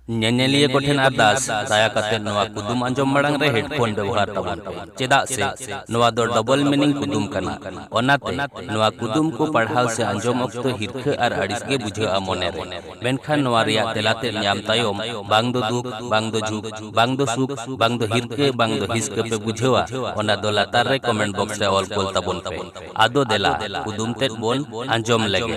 ᱧᱮᱧᱮᱞᱤᱭᱟᱹ ᱠᱚ ᱴᱷᱮᱱ ᱟᱨᱫᱟᱥ ᱫᱟᱭᱟ ᱠᱟᱛᱮ ᱱᱚᱣᱟ ᱠᱩᱫᱩᱢ ᱟᱸᱡᱚᱢ ᱢᱟᱲᱟᱝ ᱨᱮ ᱦᱮᱰᱯᱷᱳᱱ ᱵᱮᱣᱦᱟᱨ ᱛᱟᱵᱚᱱ ᱯᱮ ᱪᱮᱫᱟᱜ ᱥᱮ ᱱᱚᱣᱟ ᱫᱚ ᱰᱚᱵᱚᱞ ᱢᱤᱱᱤᱝ ᱠᱩᱫᱩᱢ ᱠᱟᱱᱟ ᱚᱱᱟᱛᱮ ᱱᱚᱣᱟ ᱠᱩᱫᱩᱢ ᱠᱚ ᱯᱟᱲᱦᱟᱣ ᱥᱮ ᱟᱸᱡᱚᱢ ᱚᱠᱛᱚ ᱦᱤᱨᱠᱷᱟᱹ ᱟᱨ ᱟᱹᱲᱤᱥ ᱜᱮ ᱵᱩᱡᱷᱟᱹᱜᱼᱟ ᱢᱚᱱᱮ ᱨᱮ ᱢᱮᱱᱠᱷᱟᱱ ᱱᱚᱣᱟ ᱨᱮᱭᱟᱜ ᱛᱮᱞᱟ ᱛᱮᱫ ᱧᱟᱢ ᱛᱟᱭᱚᱢ ᱵᱟᱝ ᱫᱚ ᱫᱩᱠ ᱵᱟᱝ ᱫᱚ ᱡᱷᱩᱠ ᱵᱟᱝ ᱫᱚ ᱥᱩᱠ ᱵᱟᱝ ᱫᱚ ᱦᱤᱨᱠᱟᱹ ᱵᱟᱝ ᱫᱚ ᱦᱤᱥᱠᱟᱹ ᱯᱮ ᱵᱩᱡᱷᱟᱹᱣᱟ ᱚᱱᱟ ᱫᱚ ᱞᱟᱛᱟᱨ ᱨᱮ ᱠᱚᱢᱮᱱᱴ ᱵᱚᱠᱥ ᱨᱮ ᱚᱞ ᱠᱳᱞ ᱛᱟᱵᱚᱱ ᱯᱮ ᱟᱫᱚ ᱫᱮᱞᱟ ᱠᱩᱫᱩᱢ ᱛᱮᱫ ᱵᱚᱱ ᱟᱸᱡᱚᱢ ᱞᱮᱜᱮ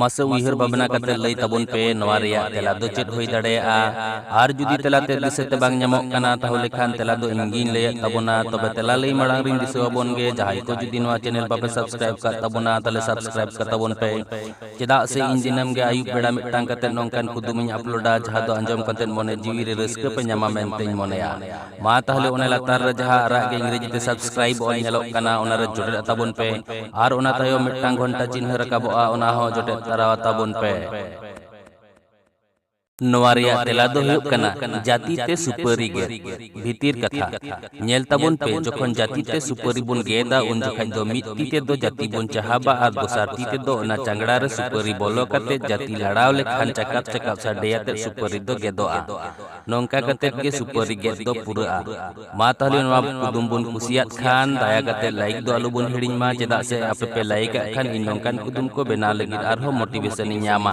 ᱢᱟᱥᱮ ᱩᱭᱦᱟᱹᱨ ᱵᱷᱟᱵᱽᱱᱟ ᱠᱟᱛᱮ ᱞᱟᱹᱭ ᱛᱟᱵᱚᱱ ᱯᱮ ᱱᱚᱣᱟ ᱨᱮᱭᱟᱜ ᱛᱮᱞᱟ ᱫᱚ ᱪᱮᱫ ᱦᱩᱭ ᱫᱟᱲᱮᱭᱟᱜᱼᱟ ᱟᱨ ᱡᱩᱫᱤ ᱛᱮᱞᱟ ᱛᱮ ᱫᱤᱥᱟᱹ ᱛᱮ ᱵᱟᱝ ᱧᱟᱢᱚᱜ ᱠᱟᱱᱟ ᱛᱟᱦᱚᱞᱮ ᱠᱷᱟᱱ ᱛᱮᱞᱟ ᱫᱚ ᱤᱧ ᱜᱤᱧ ᱞᱟᱹᱭᱮᱫ ᱛᱟᱵᱚᱱᱟ ᱛᱚᱵᱮ ᱛᱮᱞᱟ ᱞᱟᱹᱭ ᱢᱟᱲᱟᱝ ᱨᱤᱧ ᱫᱤᱥᱟᱹ ᱟᱵᱚᱱ ᱜᱮ ᱡᱟᱦᱟᱸᱭ ᱠᱚ ᱡᱩᱫᱤ ᱱᱚᱣᱟ ᱪᱮᱱᱮᱞ ᱵᱟᱯᱮ ᱥᱟᱵᱥᱠᱨᱟᱭᱤᱵ ᱠᱟᱜ ᱛᱟᱵᱚᱱᱟ ᱛᱟᱦᱚᱞᱮ ᱥᱟᱵᱥᱠᱨᱟᱭᱤᱵ ᱠᱟᱜ ᱛᱟᱵᱚᱱ ᱯᱮ ᱪᱮᱫᱟᱜ ᱥᱮ ᱤᱧ ᱫᱤᱱᱟᱹᱢ ᱜᱮ ᱟᱹᱭᱩᱵ ᱵᱮᱲᱟ ᱢᱤᱫᱴᱟᱝ ᱠᱟᱛᱮ ᱱᱚᱝᱠᱟᱱ ᱠᱩᱫᱩᱢᱤᱧ ᱟᱯᱞᱳᱰᱟ ᱡᱟᱦᱟᱸ ᱫᱚ ᱟᱸᱡᱚᱢ ᱠᱟᱛᱮ ᱢᱚᱱᱮ ᱡᱤᱣᱤ ᱨᱮ ᱨᱟᱹᱥᱠᱟᱹ ᱯᱮ ᱧᱟᱢᱟ ᱢᱮᱱᱛᱮᱧ ᱢᱚᱱᱮᱭᱟ ᱢᱟ ᱛᱟᱦᱚᱞᱮ ᱚᱱᱟ ᱞᱟᱛᱟᱨ ᱨᱮ ᱡᱟᱦᱟᱸ ᱟᱨᱟᱜ ᱜᱮ ᱤᱝᱨᱮᱡᱤ ᱛᱮ ᱥᱟᱵᱥᱠᱨᱟᱭᱤᱵ ᱚᱞ ᱧᱮᱞᱚᱜ ᱠᱟᱱᱟ ᱚᱱᱟ ᱨᱮ ᱡᱚᱴᱮᱫ ᱟᱛᱟᱵᱚᱱ ᱯᱮ ᱟᱨ ᱚᱱᱟ ᱛᱟᱭᱚᱢ ᱢᱤᱫᱴᱟᱝ ᱜᱷᱚᱱᱴᱟ ᱪᱤᱱᱦᱟᱹ ᱨᱟᱠᱟᱵᱚᱜᱼᱟ ᱚᱱᱟ ᱦᱚᱸ ᱡᱚᱴᱮᱫ ᱛᱟᱨᱟ ᱟᱛᱟᱵᱚᱱ ᱯᱮ ᱱᱚᱣᱟ ᱨᱮᱭᱟᱜ ᱛᱮᱞᱟ ᱫᱚ ᱦᱩᱭᱩᱜ ᱠᱟᱱᱟ ᱡᱟᱹᱛᱤ ᱛᱮ ᱥᱩᱯᱟᱹᱨᱤ ᱜᱮᱫ ᱵᱷᱤᱛᱤᱨ ᱠᱟᱛᱷᱟ ᱧᱮᱞ ᱛᱟᱵᱚᱱ ᱯᱮ ᱡᱚᱠᱷᱚᱱ ᱡᱟᱹᱛᱤ ᱛᱮ ᱥᱩᱯᱟᱹᱨᱤ ᱵᱚᱱ ᱜᱮᱫᱟ ᱩᱱ ᱡᱚᱠᱷᱟᱡ ᱫᱚ ᱢᱤᱫ ᱛᱤ ᱛᱮ ᱫᱚ ᱡᱟᱹᱛᱤ ᱵᱚᱱ ᱪᱟᱦᱟᱵᱟ ᱟᱨ ᱫᱚᱥᱟᱨ ᱛᱤ ᱛᱮ ᱫᱚ ᱚᱱᱟ ᱪᱟᱝᱜᱲᱟ ᱨᱮ ᱥᱩᱯᱟᱹᱨᱤ ᱵᱚᱞᱚ ᱠᱟᱛᱮ ᱡᱟᱹᱛᱤ ᱞᱟᱲᱟᱣ ᱞᱮᱠᱷᱟᱱ ᱪᱟᱠᱟᱯ ᱪᱟᱠᱟᱯ ᱥᱟᱰᱮᱭᱟᱛᱮ ᱥᱩᱯᱟᱹᱨᱤ ᱫᱚ ᱜᱮᱫᱚᱜᱼᱟ ᱱᱚᱝᱠᱟ ᱠᱟᱛᱮ ᱜᱮ ᱥᱩᱯᱟᱹᱨᱤ ᱜᱮᱫ ᱫᱚ ᱯᱩᱨᱟᱹᱜᱼᱟ᱾ ᱢᱟ ᱛᱟᱦᱞᱮ ᱱᱚᱣᱟ ᱠᱩᱫᱩᱢ ᱵᱚᱱ ᱠᱩᱥᱤᱭᱟᱫ ᱠᱷᱟᱱ ᱫᱟᱭᱟ ᱠᱟᱛᱮ ᱞᱟᱭᱤᱠ ᱫᱚ ᱟᱞᱚ ᱵᱚᱱ ᱦᱤᱲᱤᱧ ᱢᱟ ᱪᱮᱫᱟᱜ ᱥᱮ ᱟᱯᱮ ᱯᱮ ᱞᱟᱭᱤᱠ ᱟᱜ ᱠᱷᱟᱱ ᱤᱧ ᱱᱚᱝᱠᱟᱱ ᱠᱩᱫᱩᱢ ᱠᱚ ᱵᱮᱱᱟᱣ ᱞᱟᱹᱜᱤᱫ ᱟᱨᱦᱚᱸ ᱢᱚᱴᱤᱵᱷᱮᱥᱚᱱ ᱤᱧ ᱧᱟᱢᱟ᱾